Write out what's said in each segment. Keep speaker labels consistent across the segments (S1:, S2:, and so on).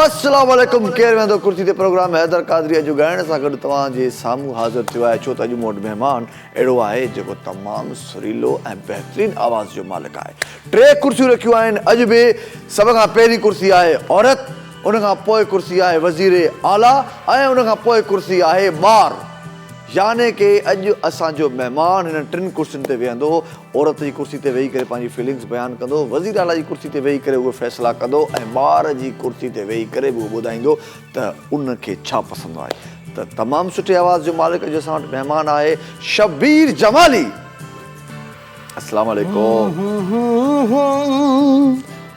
S1: السلام عليڪم ڪير ويهندو ڪرسي تي پروگرام حيدر قادري اڄ ڳائڻ سان گڏ توهان جي سامهون حاضر ٿيو آهي ڇو ته اڄ مون وٽ مهمان اهڙو آهي جيڪو تمام سريلو ۽ بهترين آواز جو مالڪ آهي ٽي ڪرسيون رکيون آهن اڄ به سڀ کان پهرين ڪرسي آهي عورت ان کان پوء ڪرسي آهي وزير اعليٰ ۽ ان کان پوء ڪرسي آهي ٻار. يعني ڪي اڄ اسان جو مهمان هنن ٽن ڪرسين تي ويهندو، عورت جي ڪرسي تي ويهي ڪري پنهنجي فيلنگس بيان ڪندو، وزير اعليٰ جي ڪرسي تي ويهي ڪري اهي فيصلا ڪندو ۽ ٻار جي ڪرسي تي ويهي ڪري به اهو ٻڌائيندو ته ان کي ڇا پسند آهي ته تمام سٺي آواز جو مالڪ اڄ اسان وٽ مهمان آهي شبير جمالي السلام عليڪم.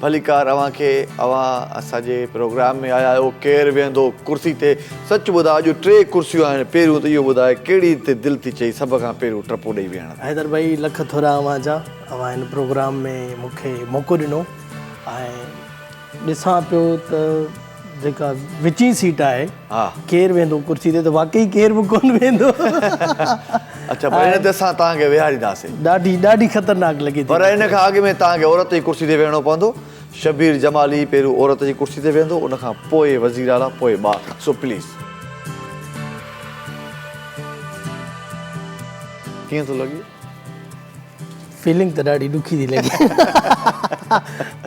S1: ڀليڪار اوهان کي اوهان اسان جي پروگرام ۾ آيا آهيو ڪير ويهندو ڪرسي تي سچ ٻڌاء اڄ ٽي ڪرسيون آهن پهريون ته اهو ٻڌاء ڪهڙي تي دل ٿي چئي سڀ کان پهريون ٽپو ڏئي ويهڻ تي. حيدر ڀائي لک ٿورا
S2: اوهان جا اوهان هن پروگرام ۾ مونکي موقعو ڏنو ۽ ڏسان پيو ته جيڪا وچين سيٽ آهي ڪير ويندو ڪرسي تي ته واقعي ڪير به ڪون ويندو
S1: اچا پر هن تي اسان توهان کي ويهارينداسين ڏاڍي ڏاڍي
S2: خطرناڪ لڳي ٿي پر هن کان اڳ ۾
S1: توهان کي عورت جي ڪرسي تي ويهڻو پوندو شبير جمالي پهريون عورت جي ڪرسي تي ويهندو ان کان پوء وزير اعليٰ پوء ٻار سو پليز ڪيئن ٿو لڳي
S2: فيلنگ ته ڏاڍي ڏکي ٿي لڳي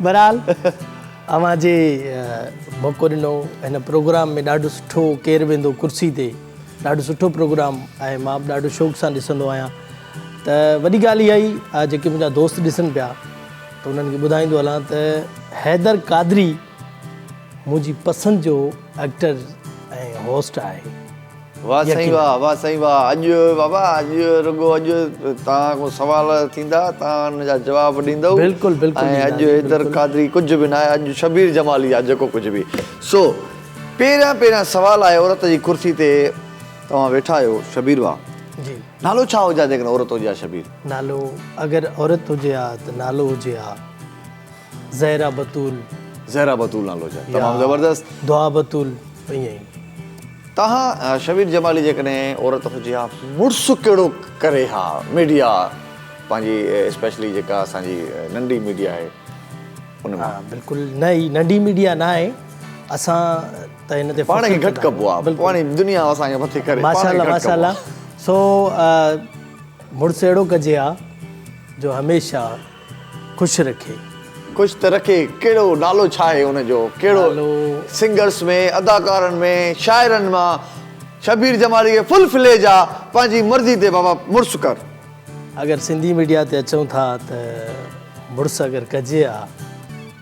S2: برحال اوهان جي موقعو ڏنو هن پروگرام ۾ ڏاڍو سٺو ڪير ويندو ڪرسي تي ڏاڍو سٺو پروگرام آهي مان به ڏاڍو شوق سان ڏسندو آهيان ته وڏي ڳالهه اها ئي آ جيڪي منهنجا دوست ڏسن پيا ته انهن کي ٻڌائيندو هلان ته حيدر قادري منهنجي پسند جو ايڪٽر ۽ هوسٽ آهي واه سائين
S1: واه واه سائين واه اڄ بابا اڄ رڳو اڄ توهان کان سوال ٿيندا توهان ان جا جواب ڏيندؤ بلڪل بلڪل ۽ اڄ
S2: حيدر
S1: قادري ڪجهه به ناهي اڄ شبير جمالي آ جيڪو ڪجهه به سو پهريان پهريان سوال آهي عورت جي ڪرسي تي توهان ويٺا آهيو شبير واه جي نالو
S2: ڇا هجي ها
S1: جيڪڏهن عورت هجي ها شبير نالو
S2: اگر عورت هجي ها ته نالو هجي ها زهره بتول. زهره بتول
S1: نالو جا تمام زبردست. دعا بتول
S2: ائين ئي. تها
S1: شبير جمالي جيڪڏهن عورت هجي ها مڙس ڪهڙو ڪري ها ميڊيا پنهنجي اسپيشلي جيڪا اسان جي ننڍي ميڊيا آهي ان ها بلڪل نه هي ننڍي
S2: ميڊيا نه آهي اسان ته هن تي پاڻ کي گهٽ ڪبو آ
S1: پاڻي دنيا اسان کي مٿي ڪري ماشاء الله ماشاء الله
S2: سو مڙس اهڙو ڪجي ها جو هميشه خوش رکي. خوش ته رکي
S1: ڪهڙو نالو ڇا آهي ان جو ڪهڙو نالو. سنگرس ۾ اداڪارن ۾ شاعرن مان شبير جمالي کي فل فليج آ پنهنجي مرضي تي بابا مڙس ڪر. اگر سنڌي
S2: ميڊيا تي اچون ٿا ته مڙس اگر ڪجي ها.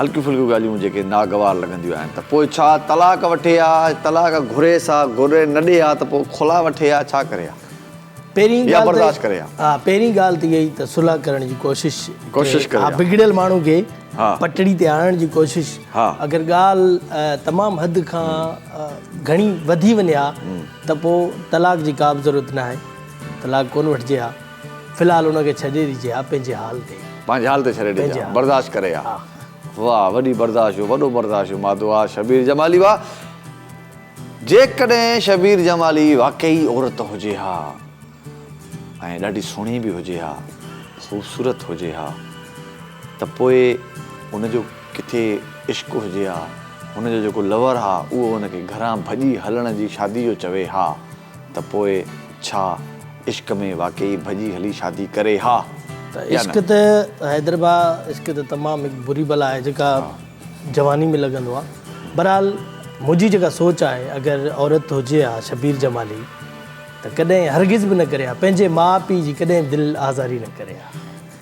S1: هلڪيون ڦلڪيون ڳالهيون جيڪي ناگوار لڳنديون آهن ته پوء ڇا طلاق وٺي ها طلاق گهريس ها گهري نه ڏي ها ته پوء خلا وٺي ها ڇا ڪري ها پهرين يا ڳالهه
S2: برداشت ڪري
S1: ها. ها پهرين ڳالهه ته اها
S2: ئي ته صلح ڪرڻ جي ڪوشش ڪوشش ڪري ها
S1: بگڙيل ماڻهو کي
S2: ها پٽڙي تي
S1: آڻڻ جي
S2: ڪوشش ها اگر ڳالهه تمام حد کان گهڻي وڌي وڃي ها ته پوء طلاق جي ڪا به ضرورت ناهي طلاق ڪونه وٺجي ها في الحال ان کي ڇڏي ڏجي ها پنهنجي حال تي. پنهنجي حال تي ڇڏي ڏجي
S1: ها برداشت ڪري ها. واهه وڏي برداشت جو وڏو برداشت جو مادو آ شبير جمالي واهه جيڪڏهن شبير جمالي واقعي عورت هجي ها ۽ ڏاڍي سهڻي به هجي ها خوبصورت هجي ها ته پوء ان جو ڪٿي عشق هجي ها هن جو جيڪو لور آ اهو ان کي گهران ڀڄي هلڻ جي شادي جو چوي ها. ته پوء ڇا عشق ۾ واقعي ڀڄي هلي شادي ڪري ها ته يا نه؟ عشق ته
S2: حيدر ڀاء عشق ته تمام هڪ بري بلا آهي جيڪا جواني ۾ لڳندو آهي بهرحال منهنجي جيڪا سوچ آهي اگر عورت هجي ها شبير جمالي ته ڪڏهن هرگز به نه ڪري ها پنهنجي ماء پيء جي ڪڏهن دل آزاري نه ڪري ها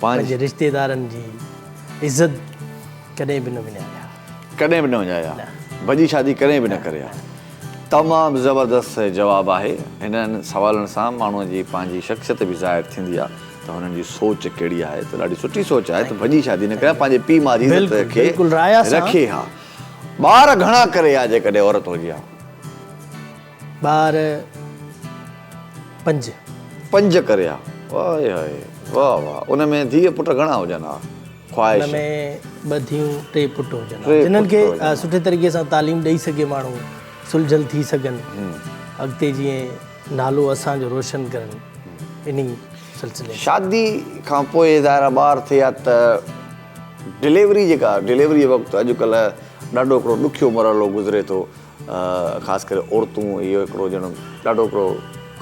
S2: پنهنجي رشتيدارن جي عزت ڪڏهن به نه وڃايا. ڪڏهن به نه
S1: وڃايا. ڀڄي شادي ڪڏهن به نه ڪريا. تمام زبردست جواب آهي هنن سوالن سان ماڻهو جي پنهنجي شخصيت به ظاهر ٿيندي آ ته هنن جي سوچ ڪهڙي آهي ته ڏاڍي سٺي سوچ آهي ته ڀڄي شادي نه ڪريا پنهنجي پي ماء جي عزت کي رکي ها ٻار گهڻا ڪري ها جيڪڏهن عورت هجي ها
S2: ٻار پنج پنج ڪري
S1: ها واء هائي واء واء ان ۾ ڌيء پٽ گهڻا هجن ها. خواهش. ان ۾ ٻه
S2: ڌيئون، ٽي پٽ هجن ها، جنھن کي سٺي طريقي سان تعليم ڏئي سگهي ماڻھو، سلجهيل ٿي سگهن، اڳتي جيئن نالو اسان جو روشن ڪرن، انھي سلسلي ۾. شادي کان پوء
S1: ظاهر آهي ٻار ٿئي ها ته ڊليوري جيڪا ڊليوري وقت اڄڪلهه ڏاڍو هڪڙو ڏکيو مرحلو گذري ٿو، خاص ڪري عورتون اهو هڪڙو ڄڻ ڏاڍو هڪڙو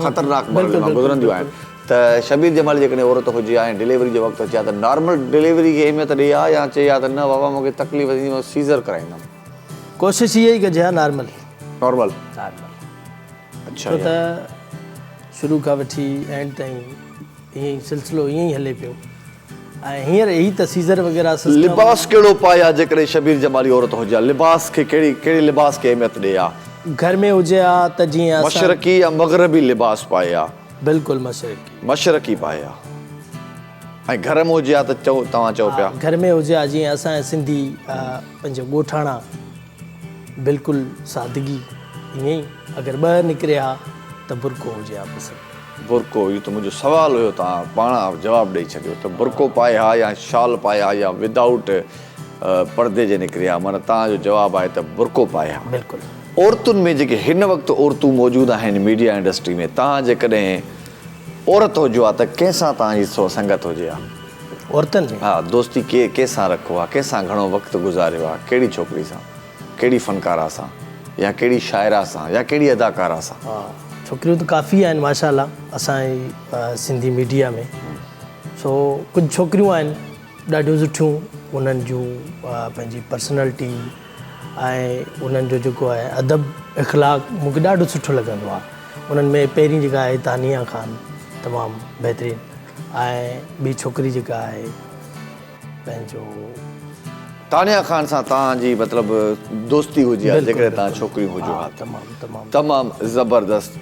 S1: خطرناڪ مرحلي مان گذرنديون آهن ته شبير جمالي جيڪڏهن عورت هجي ها ۽ ڊليوري جي وقت اچي ها ته نارمل ڊليوري کي اهميت ڏئي ها يا چئي ها ته نه بابا مون کي تڪليف ٿيندي مان سيزر ڪرائيندم. ڪوشش اها
S2: ئي ڪجي ها نارمل. نارمل. نارمل. اڇا.
S1: ڇو ته
S2: شروع کان وٺي اينڊ تائين ايئن ئي سلسلو ايئن ئي هلي پيو. ۽ هينئر هي ته سيزر وغيره سسٽم. لباس ڪهڙو پائي
S1: ها جيڪڏهن شبير جمالي عورت هجي ها لباس کي ڪهڙي ڪهڙي لباس کي اهميت ڏئي ها. گهر ۾ هجي ها
S2: ته جيئن اسان. مشرقي يا مغربي
S1: لباس پائي ها. بلڪل مشرقي.
S2: مشرقي
S1: پائي ها ۽ گهر م هجي ها ته چئو توهان چئو پيا. گهر ۾ هجي ها جيئن
S2: اسان جا سنڌي پنهنجا ڳوٺاڻا. بلڪل سادگي ائين ئي اگر ٻه نڪري ها ته برقعو هجي ها پسند. برقعو اهو ته
S1: منهنجو سوال هيو توهان پاڻ آف جواب ڏئي ڇڏيو ته برقعو پائي ها يا شال پائي ها يا ودائوٽ پڙدي جي نڪري ها معنيٰ توهان جو جواب آهي ته برقعو پائي ها بلڪل. عورتن
S2: ۾ جيڪي
S1: هن وقت عورتون موجود آهن ميڊيا انڊسٽري ۾ توهان جيڪڏهن عورت هجو ها ته ڪنهن سان توهان جي سنگت هجي ها؟ عورتن ۾؟ ها
S2: دوستي ڪي
S1: ڪي
S2: سان
S1: رکو ها ڪنهن سان گهڻو وقت گذاريو ها ڪهڙي ڇوڪري سان ڪهڙي فنڪاره سان يا ڪهڙي شاعره سان يا ڪهڙي اداڪاره سان؟ ها ڇوڪريون ته
S2: ڪافي آهن ماشاءالله اسان جي سنڌي ميڊيا ۾ سو ڪجهه ڇوڪريون آهن. ڏاڍيون سٺيون انهن جون پنهنجي پرسنالٽي ۽ انهن جو جيڪو آهي ادب اخلاق مون کي ڏاڍو سٺو لڳندو آهي انهن ۾ پهرين جيڪا آهي تانيا خان تمام بهترين ۽ ٻي ڇوڪري جيڪا آهي پنهنجو
S1: تانيا خان سان توهان جي مطلب دوستي هجي ها جيڪڏهن توهان ڇوڪريون هجو ها تمام تمام تمام زبردست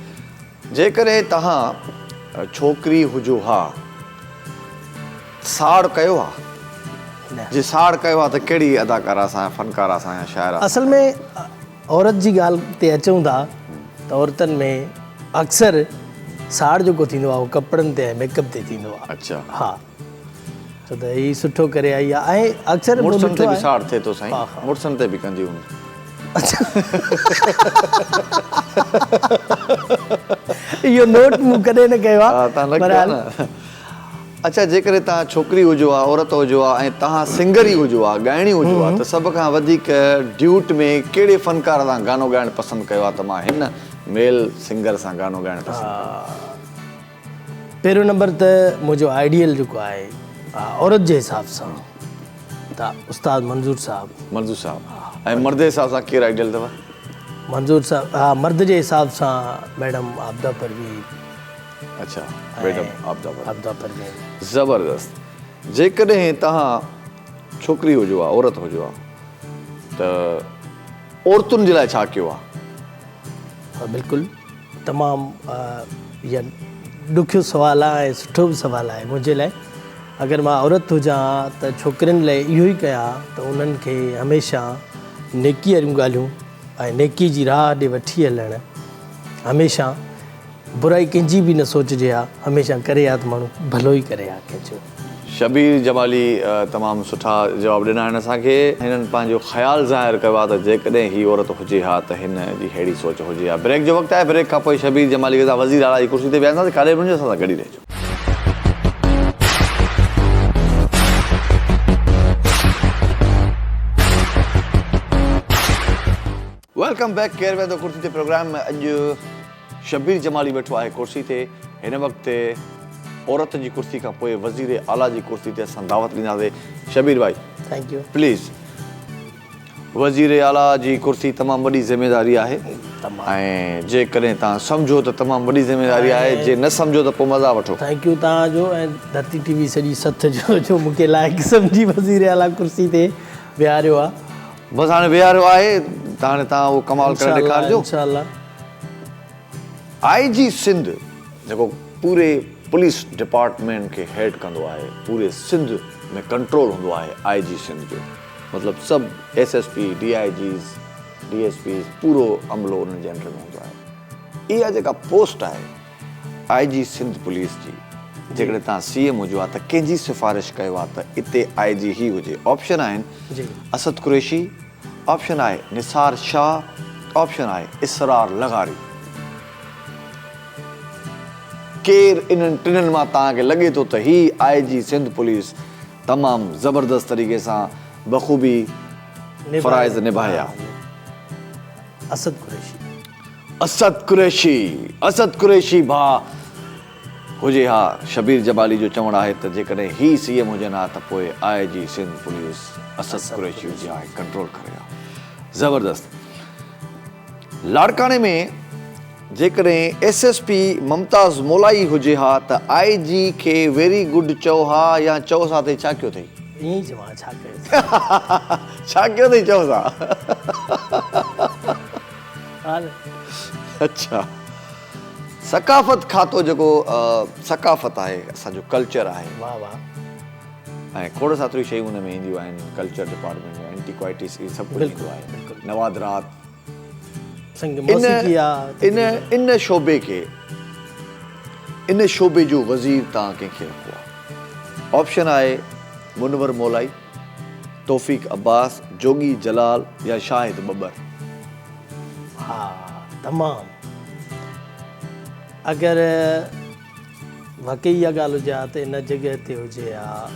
S1: جيڪڏهن توهان ڇوڪري هجو ها ساڙ ڪيو ها؟ جي ساڙ ڪيو ها ته ڪهڙي اداڪاره سان يا فنڪاره سان يا شاعره سان؟ اصل ۾
S2: عورت جي ڳالهه تي اچون ٿا ته عورتن ۾ اڪثر ساڙ جيڪو ٿيندو آهي اهو ڪپڙن تي ۽ ميڪ اپ تي ٿيندو آهي. اچا. ها. ڇو ته هي سٺو ڪري آئي آ ۽ اڪثر مون مڙسن تي ڏٺو به آهي ساڙ ٿئي
S1: ٿو سائين ها ها مڙسن تي به ڪندي هوندي.
S2: اهو نوٽ مون ڪڏهن نه ڪيو آ ها توهان نه ڪيو آ بهرحال نه
S1: اڇا جيڪڏهن توهان ڇوڪري هجو ها عورت هجو ها ۽ توهان سنگري هجو ها ڳائڻي هجو ها ته سڀ کان وڌيڪ ڊيوٽ ۾ ڪهڙي فنڪار سان گانو ڳائڻ پسند ڪيو ها ته مان هن ميل سنگر سان گانو ڳائڻ پسند ڪندم. پهريون نمبر ته
S2: منهنجو آئيڊيل جيڪو آهي عورت جي حساب سان ته استاد منظور صاحب. منظور صاحب ۽ مرد جي حساب سان
S1: ڪير آئيڊيل اٿو؟ منظور
S2: صاحب ها مرد جي حساب سان ميڊم عابده پروين. اڇا
S1: ميڊم عابده پروين. زبردست جيڪڏهن توهان ڇوڪري هجو ها عورت هجو ها ته عورتن جي لاء ڇا ڪيو ها؟
S2: بلڪل. تمام يا ڏکيو سوال آ ۽ سٺو به سوال آهي منهنجي لاء اگر مان عورت هجان ها ته ڇوڪرين لاء اهو ئي ڪيان ها ته انهن کي هميشه نيڪي واريون ڳالهيون ۽ نيڪي جي راهه ڏي وٺي هلڻ هميشه برائي ڪنهن جي به نه سوچجي ها هميشه ڪري ها ته ماڻهو ڀلو ئي ڪري ها ڪنهن جو. شبير
S1: جمالي تمام سٺا جواب ڏنا آهن اسان کي. هنن پنهنجو خيال ظاهر ڪيو آهي ته جيڪڏهن هي عورت هجي ها ته هن جي ههڙي سوچ هجي ها. بريڪ جو وقت آهي بريڪ کان پوء شبير جمالي کي اسان وزير اعليٰ جي ڪرسي تي ويهارينداسين ڪاڏي به نه وڃو اسان سان گڏ ئي رهجو. ويلڪم بيڪ ڪير ويهندو ڪرسي تي پروگرام ۾ اڄ. شبير جمالي ويٺو آهي ڪرسي تي، هن وقت عورت جي ڪرسي کان پوء وزير اعليٰ جي ڪرسي تي اسان دعوت ڏينداسين شبير ڀائي پليز وزير اعليٰ جي ڪرسي تمام وڏي ذميواري آهي ۽ جيڪڏهن توهان سمجهو ته تمام وڏي ذميواري آهي جي نه سمجهو ته پوء مزا وٺو. ٿينڪ يو توهان جو ۽
S2: ڌرتي ٽي وي سڄي سٿ جو جو مونکي لائق سمجهي وزير اعليٰ ڪرسي تي ويهاريو آهي. بس هاڻي ويهاريو
S1: آهي ته هاڻي توهان اهو ڪمال ڪري ڏيکارجو. آء جي سنڌ جيڪو پوري پوليس ڊپارٽمينٽ کي هيڊ ڪندو آهي پوري سنڌ ۾ ڪنٽرول هوندو آهي آء جي سنڌ جو مطلب سڀ S S P D I Gs D S Ps پورو عملو انهن جي انڊر ۾ هوندو آهي اها جيڪا پوسٽ آهي آء جي سنڌ پوليس جي جيڪڏهن تهان سي ايم هجو ها ته ڪنهن جي سفارش ڪيو ها ته اتي آء جي هي هجي آپشن آهن اسد قريشي آپشن آهي نثار شاهه آپشن آهي اسرار لغاري ڪير انهن ٽنن مان تهان کي لڳي ٿو ته هي آء جي سنڌ پوليس تمام زبردست طريقي سان بخوبي فرائض نباهيا.
S2: اسد قريشي. اسد
S1: قريشي، اسد قريشي ڀاء هجي ها، شبير جبالي جو چوڻ آهي ته جيڪڏهن هي سي ايم هجن ها ته پوء آء جي سنڌ پوليس اسد قريشي هجي ها ۽ ڪنٽرول ڪري ها. زبردست لاڙڪاڻي ۾ جيڪڏهن S S P Mumtaz Molai هجي ها ته آء جي کي ويري گڊ چئو ها يا چئوس ها ته هي ڇا ڪيو اٿئي؟ ائين ئي چئون ها ڇا ڪيو اٿئي؟
S2: ڇا ڪيو اٿئي
S1: چئوس ها. اڇا ثقافت کاتو جيڪو ثقافت آهي اسان جو ڪلچر آهي واه واه
S2: ۽ کوڙ ساتري
S1: شيون ان ۾ اينديون آهن ڪلچر ڊپارٽمنٽ ۾ انٽي ڪوائٽيز هي سڀ ڪجهه ايندو آهي نوادرات سنگ موسيقي آهي ان ان شعبي کي ان شعبي جو وزير تان ڪنهن کي رکو آهي آپشن آهي منور مولائي توفيق عباس، جوڳي جلال يا شاهد ٻٻر؟
S2: ها تمام اگر واقعي اها ڳالهه هجي ها ته ان جڳهه تي هجي ها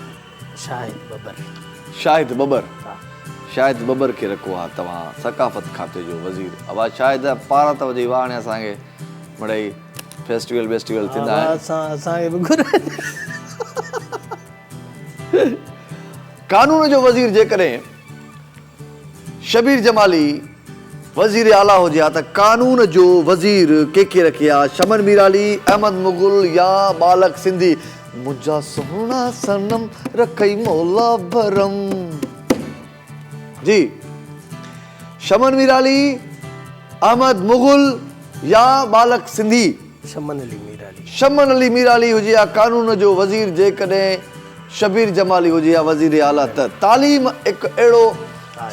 S2: شاهد ٻٻر. شاهد ٻٻر؟
S1: شاهد ٻٻر کي رکو ها توهان ثقافت کاتي جو وزير. اوهان شاهد پارا ته وجهي واهڻي اسان کي مڙئي فيسٽيول بيسٽيول ٿيندا آهن. اوهان اسان کي به گهرايو. قانون جو وزير جيڪڏهن شبير جمالي وزير اعليٰ هجي ها ته قانون جو وزير ڪي کي رکي ها شمن ميرعلي، احمد مغل يا ٻالڪ سنڌي. منهنجا سهڻا صنم رکئي مولا ڀرم. جي شمن ميرعلي، احمد مغل يا ٻالڪ سنڌي. شمن علي
S2: ميرعلي. شمن علي ميرعلي
S1: هجي ها قانون جو وزير جيڪڏهن شبير جمالي هجي ها وزير اعليٰ ته تعليم هڪ اهڙو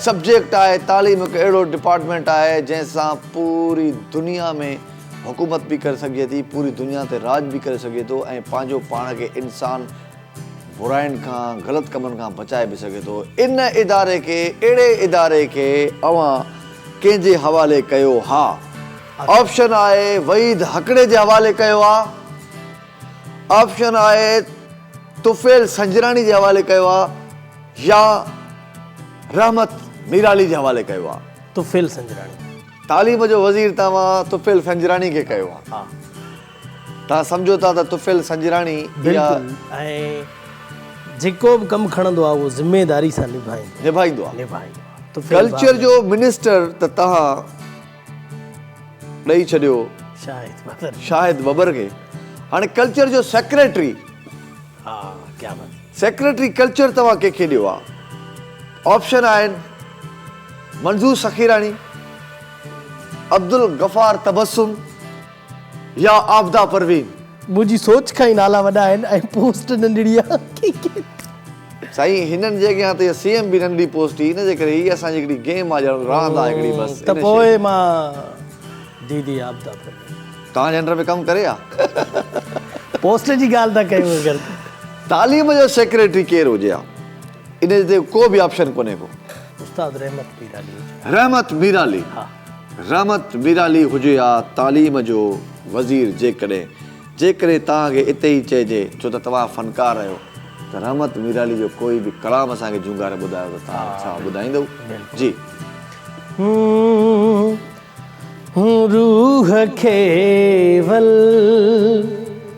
S1: سبجيڪٽ آهي تعليم هڪ اهڙو ڊپارٽمينٽ آهي جنهن سان پوري دنيا ۾ حڪومت به ڪري سگهجي ٿي پوري دنيا تي راڄ به ڪري سگهجي ٿو ۽ پنهنجو پاڻ کي انسان برائين کان غلط ڪمن کان بچائي به سگهي ٿو ان اداري کي اهڙي اداري کي اوهان ڪنهن جي حوالي ڪيو ها آپشن آهي وحيد هڪڙي جي حوالي ڪيو ها آپشن آهي طفيل سنجراڻي جي حوالي ڪيو ها يا رحمت ميرالي جي حوالي ڪيو ها طفيل سنجراڻي
S2: تعليم جو
S1: وزير توهان طفيل سنجراڻي کي ڪيو ها.
S2: توهان
S1: سمجهو ٿا ته طفيل سنجراڻي اها. بلڪل ۽
S2: جيڪو به ڪم کڻندو آهي اهو ذميداري سان نڀائيندو. نڀائيندو آهي.
S1: نڀائيندو آهي. طفيل ڀاء. ڪلچر
S2: جو منسٽر
S1: ته توهان ڏئي ڇڏيو شاهد ببر کي. شاهد ببر کي. هاڻي ڪلچر جو سيڪريٽري. ها
S2: ڪيا بات. سيڪريٽري
S1: ڪلچر توهان ڪنهن کي ڏيو ها. آپشن آهن منظور سخيراڻي، عبدالغفار تبسم. يا عابده پروين. منهنجي سوچ
S2: کان ئي نالا وڏا آهن ۽ پوسٽ ننڍڙي آهي.
S1: سائين هنن جي اڳيان ته اها سي ايم به ننڍي پوسٽ هئي ان جي ڪري هي اسان جي هڪڙي گيم آهي ڄڻ راند آهي هڪڙي بس. ته پوء مان
S2: ديدي عابده پروين. توهان جي انڊر ۾ ڪم
S1: ڪري ها. پوسٽ جي ڳالهه
S2: ٿا ڪيون اگر ته. تعليم جو
S1: سيڪريٽري ڪير هجي ها ان تي ڪو به آپشن ڪونهي ڪو. استاد رحمت
S2: ميرالي هجي ها. رحمت ميرالي.
S1: ها.
S2: رحمت
S1: ميرعلي هجي ها تعليم جو وزير جيڪڏهن جيڪڏهن توهان کي اتي ئي چئجي ڇو ته توهان فنڪار رهيو ته رحمت ميرعلي جو ڪوئي به ڪلام اسان کي جهونگاري ٻڌايو ته توهان ڇا ٻڌائيندؤ جي
S2: هون روح کي ول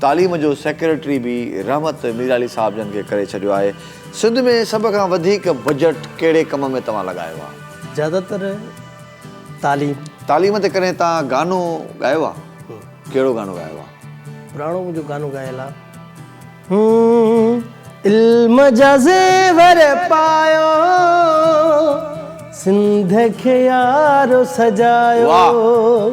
S1: تعليم جو سيڪريٽري به رحمت ميرعلي صاحب جن کي ڪري ڇڏيو آهي. سنڌ ۾ سڀ کان وڌيڪ بجٽ ڪهڙي ڪم ۾ توهان لڳايو آهي؟ زياده تر
S2: تعليم. تعليم تي
S1: ڪڏهن توهان گانو ڳايو آهي؟ ڪهڙو گانو ڳايو آهي؟ پراڻو منهنجو گانو
S2: ڳايل آهي. علم جا زيور پايو سنڌ کي يارو سجايو. واهه.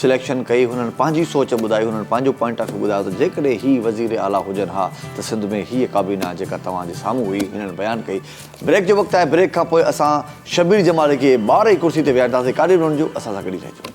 S1: سليڪشن ڪئي هنن پنهنجي سوچ ٻڌائي هنن پنهنجو پوائنٽ آف ويو ٻڌايو ته جيڪڏهن هي وزير اعليٰ هجن ها ته سنڌ ۾ هيء ڪابينا جيڪا توهان جي سامهون هئي هنن بيان ڪئي بريڪ جو وقت آهي بريڪ کانپوء اسان شبير جمالي کي ٻاهر ئي ڪرسي تي ويهارينداسين ڪاڏي به نه وڃجو اسان سان گڏ ئي رهجو.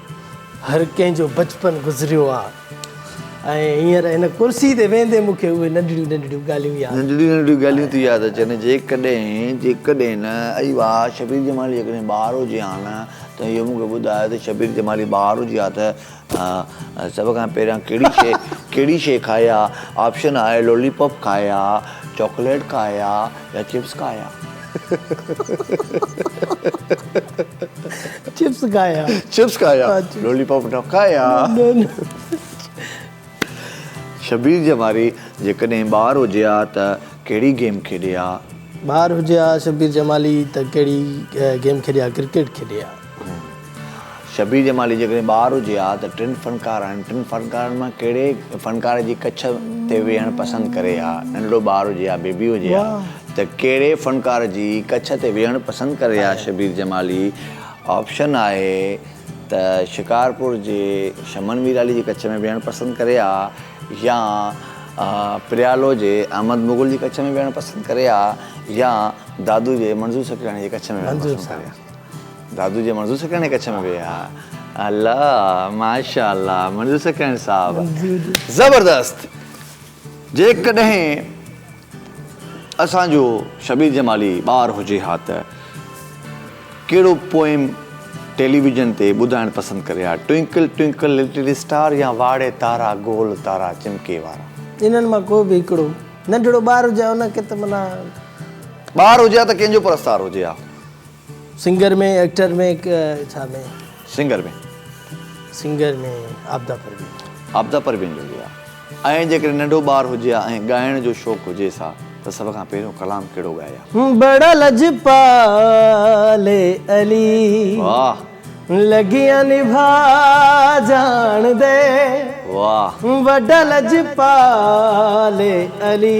S2: هر ڪنهن جو بچپن گذريو آ ۽ هينئر هن ڪرسي تي ويهندي مون کي اهي ننڍڙيون ننڍڙيون ڳالهيون ياد آيون. ننڍڙيون ننڍڙيون ڳالهيون ٿي
S1: ياد اچن جيڪڏهن جيڪڏهن نه اي واء شبير جمالي جيڪڏهن ٻار هجي ها نه ته اهو مون کي ٻڌاء ته شبير جمالي ٻار هجي ها ته سڀ کان پهريان ڪهڙي شي ڪهڙي شي کائي ها آپشن آهي لولي پاپ کائي ها چاڪليٽ کائي ها يا چپس کائي ها. چپس کايا چپس کايا لولي پاپ نه کايا شبير جماري جيڪڏهن ٻار هجي ها ته ڪهڙي گيم کيڏي ها ٻار هجي ها
S2: شبير جمالي ته ڪهڙي گيم کيڏي ها ڪرڪيٽ کيڏي ها
S1: شبير جمالي جيڪڏهن ٻار هجي ها ته ٽن فنڪار آهن ٽن فنڪارن مان ڪهڙي فنڪار جي ڪڇ تي ويهڻ پسند ڪري ها ننڍڙو ٻار هجي ها بيبي هجي ها ته ڪهڙي فنڪار جي ڪڇ تي ويهڻ پسند ڪري ها شبير جمالي آپشن آهي ته شڪارپور جي شمن ميرالي جي ڪڇ ۾ ويهڻ پسند ڪري ها يا پريالو جي احمد مغل جي ڪڇ ۾ ويهڻ پسند ڪري ها يا دادو جي منظور سڪرياڻي جي ڪڇ ۾ ويهڻ پسند ڪري ها دادو جي منظور سکڻ ڪڇ ۾ ويهي ها الا ماشاءالله منظور سکڻ صاحب زبردست جيڪڏهن اسان جو شبير جمالي ٻار هجي ها ته ڪهڙو پوئم ٽيلي ويزن تي ٻڌائڻ پسند ڪري ها ٽوئنڪل ٽوئنڪل لٽل اسٽار يا واڙي تارا گول تارا چمڪي وارا انهن مان ڪو به
S2: هڪڙو ننڍڙو ٻار هجي
S1: ها ان
S2: کي
S1: ته منا
S2: ٻار هجي
S1: ها ته ڪنهن
S2: جو
S1: پرستار هجي
S2: ها.
S1: سنگر
S2: ۾ ايڪٽر ۾ ڇا ۾ سنگر ۾
S1: سنگر ۾
S2: عابده پروين عابده پروين
S1: جو ليا ۽ جيڪڏهن ننڍو ٻار هجي ها ۽ ڳائڻ جو شوق هجيس ها ته سڀ کان پهريون ڪلام ڪهڙو ڳائي ها. بڙا
S2: لجپال علي واهه
S1: لڳيان
S2: نڀا جاڻ دي واهه
S1: وڏا
S2: لجپال علي.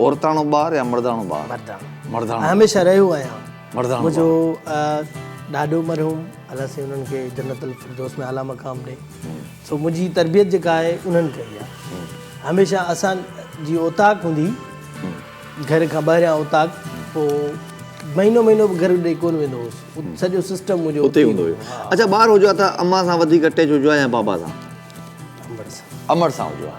S1: عورتاڻو ٻار يا مرداڻو ٻار؟ مرداڻو. مرداڻو. هميشه رهيو آهيان.
S2: مرداڻو. منهنجو ڏاڏو مرحوم الله سائين انهن کي جنت الفردوس ۾ اعليٰ مقام ڏي. سو منهنجي تربيت جيڪا آهي انهن ڪئي آهي. هميشه اسان جي اوطاق هوندي هئي گهر کان ٻاهريان اوطاق پوء مهينو مهينو به گهر ڏي ڪونه ويندو هوس. سڄو سسٽم منهنجو اتي هوندو هيو. اچا
S1: ٻار هجو ته امان سان وڌيڪ اٽيچ هجو ها يا بابا سان؟ امڙ سان. امڙ سان هجو ها.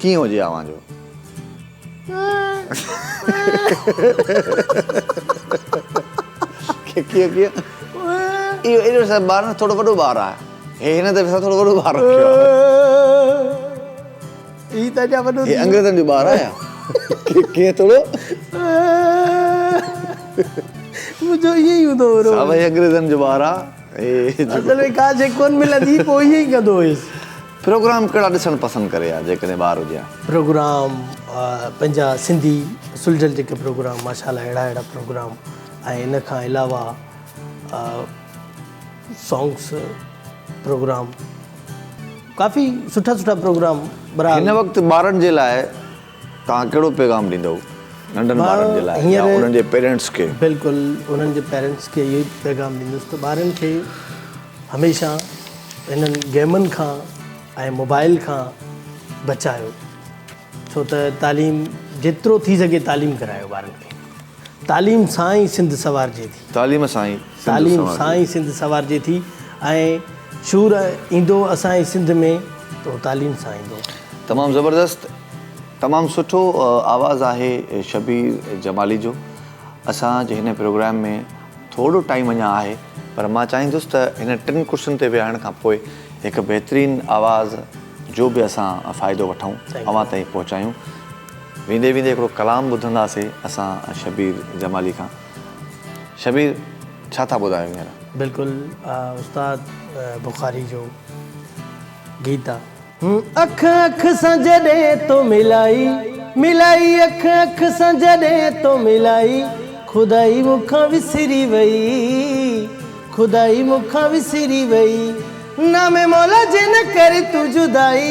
S1: ڪيئن هجي اوهان جو ڪيئن ڪيئن اهو اهڙو سا ٻار نه ٿورو وڏو ٻار آهي هي هن دفعي سان ٿورو وڏو ٻار رکيو آهي هي ته اڃا وڏو هي انگريزن جو ٻار آهي ڪيئن ٿورو
S2: منهنجو ائين ئي هوندو هو صاحب هي انگريزن جو ٻار
S1: آهي اصل ۾
S2: ڪا شيء ڪونه ملندي هئي پوء ائين ئي ڪندو هيس پروگرام ڪهڙا
S1: ڏسڻ پسند ڪري ها جيڪڏهن ٻار هجي ها. پروگرام
S2: پنهنجا سنڌي سلجهل جيڪي پروگرام ماشا الله اهڙا اهڙا پروگرام ۽ ان کان علاوه سانگس پروگرام ڪافي سٺا سٺا پروگرام هن وقت
S1: ٻارن جي لاء توهان ڪهڙو پيغام ڏيندؤ ننڍن ٻارن جي لاء يا انهن جي پيرينٽس کي؟ بلڪل انهن جي
S2: پيرينٽس کي اهو ئي پيغام ڏيندس ته ٻارن کي هميشه هنن گيمن کان ۽ موبائل کان بچايو ڇو ته تعليم جيترو ٿي سگهي تعليم ڪرايو ٻارن کي. تعليم سان ئي سنڌ سنوارجي ٿي. تعليم سان ئي سنڌ تعليم سنوارجي سان ئي ٿي. سنڌ سنوارجي ٿي ۽ شعور ايندو اسان جي سنڌ ۾ ته اهو تعليم سان ايندو. تمام زبردست
S1: تمام سٺو آواز آهي شبير جمالي جو اسان جي هن پروگرام ۾ ٿورو ٽائيم اڃان آهي پر مان چاهيندس ته هن ٽن ڪرسين تي ويهڻ کان پوء هڪ بهترين آواز جو به اسان فائدو وٺون اوهان تائين پهچايون. ويندي ويندي هڪڙو ڪلام ٻڌنداسي اسان شبير جمالي کان شبير ڇا ٿا ٻڌايو هينئر. بلڪل
S2: استاد بخاري جو گيت آ. اک اک سان جڏهن تو ملائي ملائي اک اک سان جڏهن تو ملائي خدائي مون کان وسري وئي خدائي مون کان وسري وئي نام مولا جي نه ڪري تون جدائي.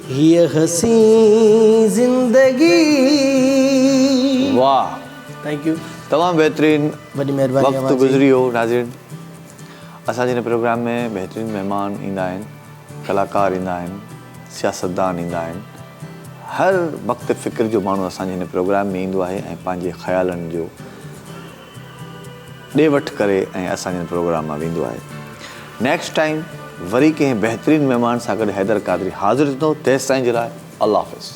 S2: هيء حسين زندگي
S1: واه ٿينڪ
S2: يو تمام بهترين وڏي
S1: مهرباني اوهان جي وقت
S2: گذري ويو
S1: ناظرين اسان جي هن پروگرام ۾ بهترين مهمان ايندا آهن ڪلاڪار ايندا آهن سياستدان ايندا آهن هر وقت فڪر جو ماڻهو اسان جي هن پروگرام ۾ ايندو آهي ۽ پنهنجي خيالن جو ڏي وٺ ڪري ۽ اسان جن پروگرام مان ويندو آهي. نيڪسٽ ٽائيم وري ڪنهن بهترين مهمان سان گڏ حيدر قادري حاضر ٿيندو تيستائين جي لاء الله حافظ.